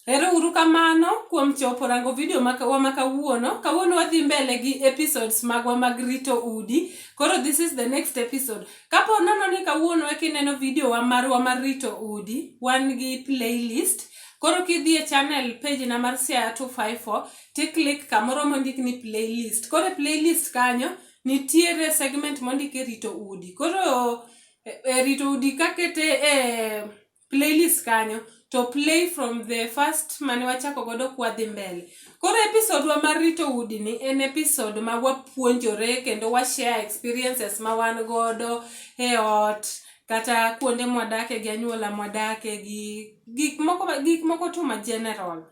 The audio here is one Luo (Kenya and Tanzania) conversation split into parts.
Ero uru kamano kuom chopo rango video makawa makawuono. Kawuono wadhi mbele gi episodes magwa mag rito udi. Koro this is the next episode. Kapo nono ni kawuono e kineno video wa marwa mar rito udi, wan gi playlist. Koro kidhi e channel page na mar Siaya 254, ti click kamoro mondik ni playlist. Koro e playlist kanyo, nitiere segment mondik e rito udi. Koro e, e rito udi kakete e playlist kanyo to play from the first mane wachako godo kwadhi mbele koro episode wa mar rito udi ni en episode ma wapuonjore kendo wa share experiences ma wan godo e ot kata kuonde mwadake gi anyuola mwadake gi gik moko gik moko tu ma general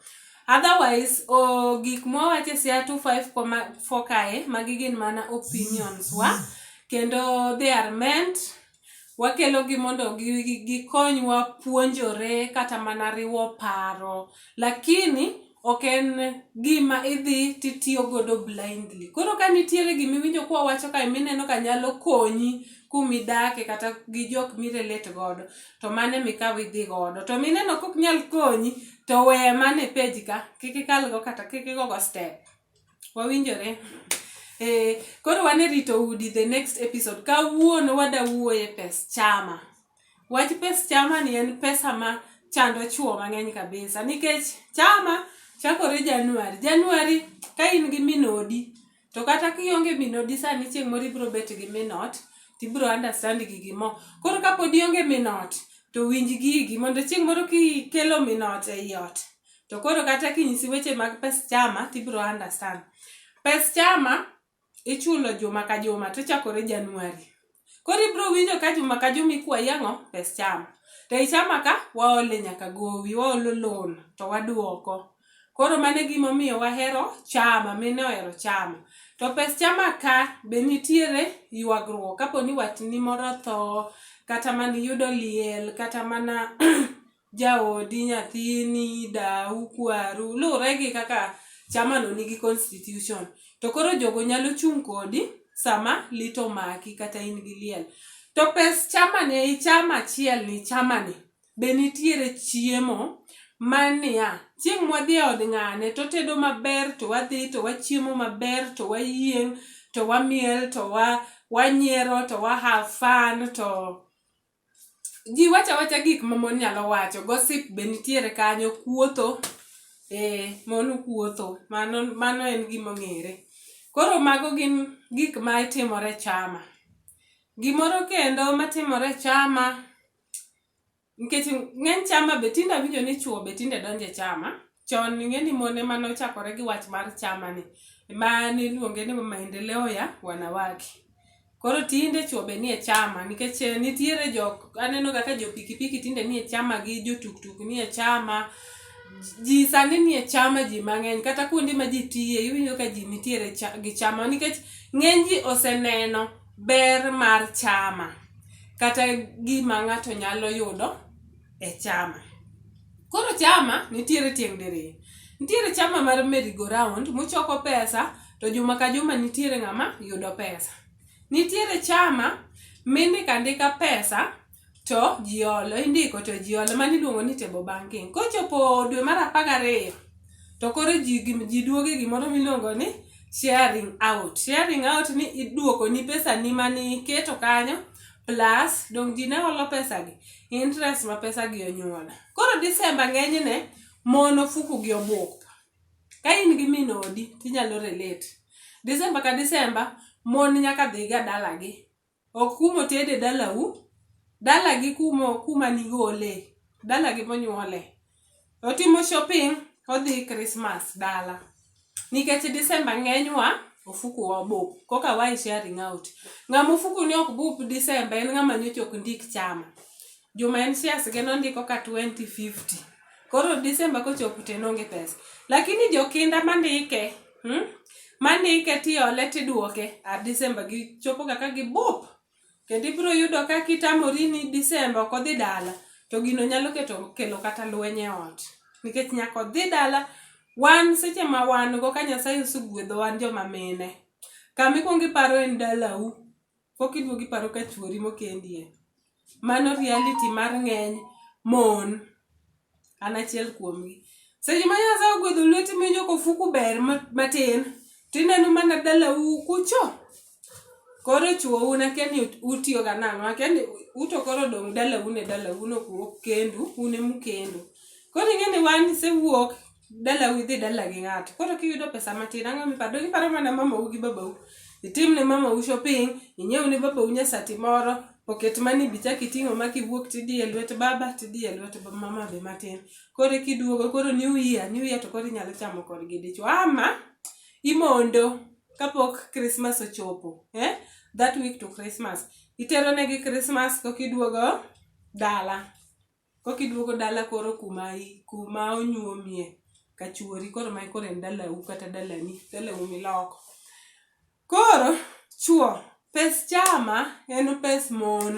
otherwise o gik mwawache sia 254 kae magi gin mana opinions wa kendo they are meant wakelogi mondo gikonywa puonjore kata mana riwo paro lakini ok en gima idhi titiyo godo blindly koro ka nitiere gima iwinjo kwa wacho kae mineno ka nyalo konyi kumidake kata gi jok mirelate godo to mane mikaw idhi godo to mineno kok nyal konyi to weye mane page ka kik ikalgo kata kik igogo step wawinjore eh, koro wan e rito udi the next episode kawuono wada wuoye pes chama wach pes chama ni en pesa ma chando chuo mang'eny kabisa nikech chama chakore januari januari ka in gi minodi to kata kionge minodi sani chieng' moro ibiro bet gi minot tibiro understand gigi mo koro kapod ionge minot to winj gigi mondo chieng' moro kikelo minot ei ot to koro kata kinyisi weche mag pes chama tibiro understand pes chama ichulo juma ka juma to chakore januari koro ibiro winjo ka juma ka juma ikwayi ang'o pes chama to e chama ka waole nyaka gowi waolo loan to waduoko koro mano e gimomiyo wahero chama mine ohero chama to pes chama ka be nitiere ywagruok kapo ni watni moro otho kata mana iyudo liel kata mana jaodi, nyathini, dau, kwaru, luwre gi kaka chamano nigi constitution. To koro jogo nyalo chung' kodi sama lit omaki kata in gi liel. To pes chamani ei chama achiel ni chamani be nitiere chiemo ma niya, chieng' mwadhi e od ng'ane to otedo maber to wadhi to wachiemo maber to wayieng' to wamiel to wa, wanyiero to wa have fun to Ji wacha wacha gik ma mon nyalo wacho, gossip be nitiere kanyo, kuotho, eh, mon kuotho. Mano mano en gima ong'ere. Koro mago gin gik ma timore e chama. Gimoro kendo matimore e chama, nikech ng'eny chama be tinde awinjo ni chwo be tinde donjo e chama. Chon ing'e ni mon ema nochakore gi wach mar chama ni. Ema niluonge ni maendeleo ya wanawake. Koro tinde chuo be nie chama nikech eh, nitiere jok aneno ga ka jo pikipiki tinde nie chama gi jo tuktuk nie chama ji sani nie chama ji mang'eny kata kuonde ma ji tiye iwinjo ka ji nitiere cha- gi chama nikech ng'eny ji oseneno ber mar chama kata gima ng'ato nyalo yudo e chama. Koro chama nitiere tieng' diriyo. Nitiere chama mar merry go round muchoko pesa to juma ka juma nitiere ng'ama yudo pesa. Nitiere chama mindiko andika pesa to ji olo, indiko to ji olo mano iluongo ni table banking. Kochopo dwe mar apar gariyo to koro ji ji duogo e gimoro miluongo ni sharing out. Sharing out ni iduokoni pesani mane iketo kanyo plus dong ji ne holo pesagi interest ma pesagi onyuolo koro disemba ng'enyne mon ofuku gi obuk ka in gi min odi tinyalo relate disemba ka disemba mon nyaka dhiga dalagi ok kumo tede dalau dalagi kumo kuma nigole dalagi monyuole otimo shopping odhi Christmas dala nikech December ng'enywa ofuku wa bup koka wa sharing out ng'ama ofuku ni ok bup December en ng'ama nyocha ok ndik chama juma en shares ge nondiko ka 2050 koro December kochopo to en onge pesa lakini jokinda mandike hmm? mandike tiole tiduoke a December gichopo kaka gibup Kendo ibiro yudo ka kitamori ni Disemba ok odhi dala, to gino nyalo keto kelo kata lweny e ot. Nikech nyaka odhi dala, wan seche ma wan go ka Nyasaye osegwedho wan joma mine. Kama ikwongo iparo en dalau, koka iduogo iparo ka chuori mokendie. Mano reality mar ng'eny mon. an achiel kuomgi seche ma nyasaye ogwedho lweti miwinjo kofuku ber matin to ineno mana dalau kucho koro chuou nakia ni utiyoga nang'o akia ni uto koro dong' dalau ne dalau nokuok kendu une mukendu koro ing'e ni wan isewuok dalau idhi dala gi ng'ato koro kiyudo pesa matin ang'o miparo donge iparo mana mamau gi babau itim ne mamau shopping inyiew ne babau nyasati moro poket mani bicha kiting'o ma kiwuok tidhi e lwet baba tidhi e lwet mama be matin koro kiduogo koro new year new year to koro inyalo chamo kodgi dichwo ama imondo kapok krismas ochopo eh? that week to krismas itero negi krismas kokiduogo dala Kok iduogo dala koro kuma i, kuma onyuomie ka chuori koro mae koro en dalau kata dalani, dalau miloko. Koro chuo, pes chama en pes mon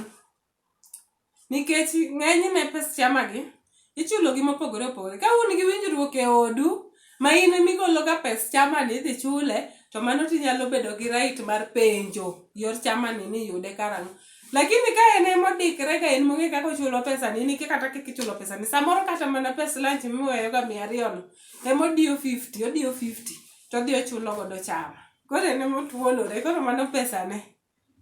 nikech ng'enyne pes chama gi ichulo gi mopogore opogore. Ka un gi winjruok e odu ma in ema igologa pes chamani idhi chule to mano tinyalo bedo gi right mar penjo yor chamani ni yude karang'o lakini ka en ema odikre ga en mong'e kaka ochulo pesa ni nike kata kaka ichulo pesa ni samoro kata mana pes lunch miweyoga mia ariyo no ema odiyo 50 odiyo 50 to odhi ochulo godo chama koro en ema otuonore koro mano pesane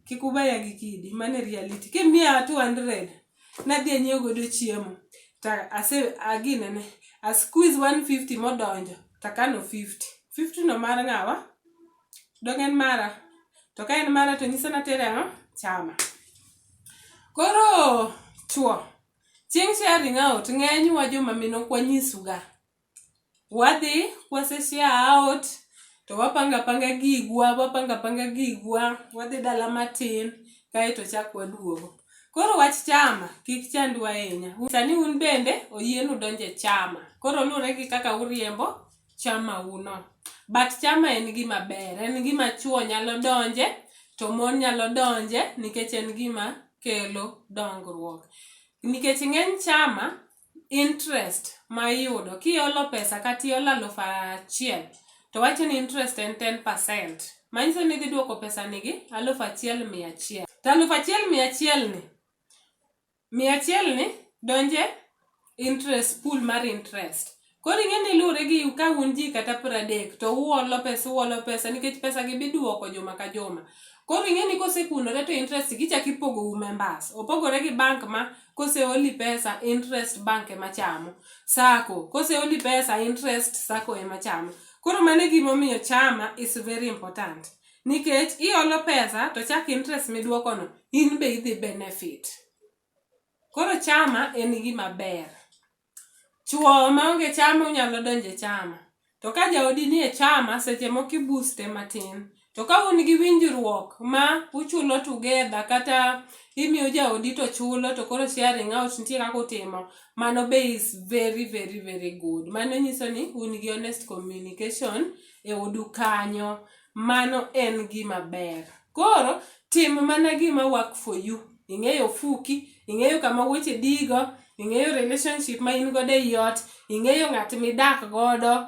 Kik ubaya gi kidi, mano e reality. Kimiya 200, nadhi anyiew godo chiemo. To ase aginene, a squeeze 150 modonjo, to akano 50. 50 no mar ng'awa? Dong' en mara? To ka en mara to nyisa natere ang'o? Chama. Koro chwo, chieng' sharing out ng'enywa joma mine ok wanyisuga. Wadhi kwaseshia out to wapanga panga gigwa, wapanga panga gigwa, wadhi dala matin kaeto chak waduogo. Koro wach chama kik chandwa ahinya. Sani un bende oyienu donje chama. Koro luwore gi kaka uriembo chama uno. But chama en gima ber, en gima chuo nyalo donje to mon nyalo donje nikech en gima kelo dongruok. Nikech ng'eny chama interest ma iyudo kiolo pesa kata iolo alufu achiel to wacho ni interest en 10%. Manyiso ni idhi duoko pesa ni gi alufu achiel mia achiel. To alufu achiel mia achiel ni, mia achiel ni donje interest pool mar interest. Koro ing'e ni luwore gi ka un ji kata pradek to uolo pesa uolo pesa nikech pesa gi biduoko juma ka juma. Koro ing'e ni kosekunore to interest gi ichak ipogo u members. Opogore gi bank ma Koseoli pesa interest bank ema chamo, sacco koseoli pesa interest sacco ema chamo. Koro mano e gima omiyo chama is very important nikech iolo pesa to chak interest midwokono in be idhi benefit. Koro chama en gima ber. Chwo maonge chama unyalo donjo e chama. To ka jaodi nie chama, seche moko i booste matin. To ka un gi winjruok ma uchulo together kata imiyo jaodi to chulo to koro sharing out nitie kaka utimo, mano be is very very very good. Mano nyiso ni un gi honest communication e odu kanyo. mano en gima ber. Koro tim mana gima work for you. Ing'eyo ofuki, ing'eyo kama wuoche digo, ing'eyo relationship ma in godo ei ot, ing'eyo ng'at midak godo.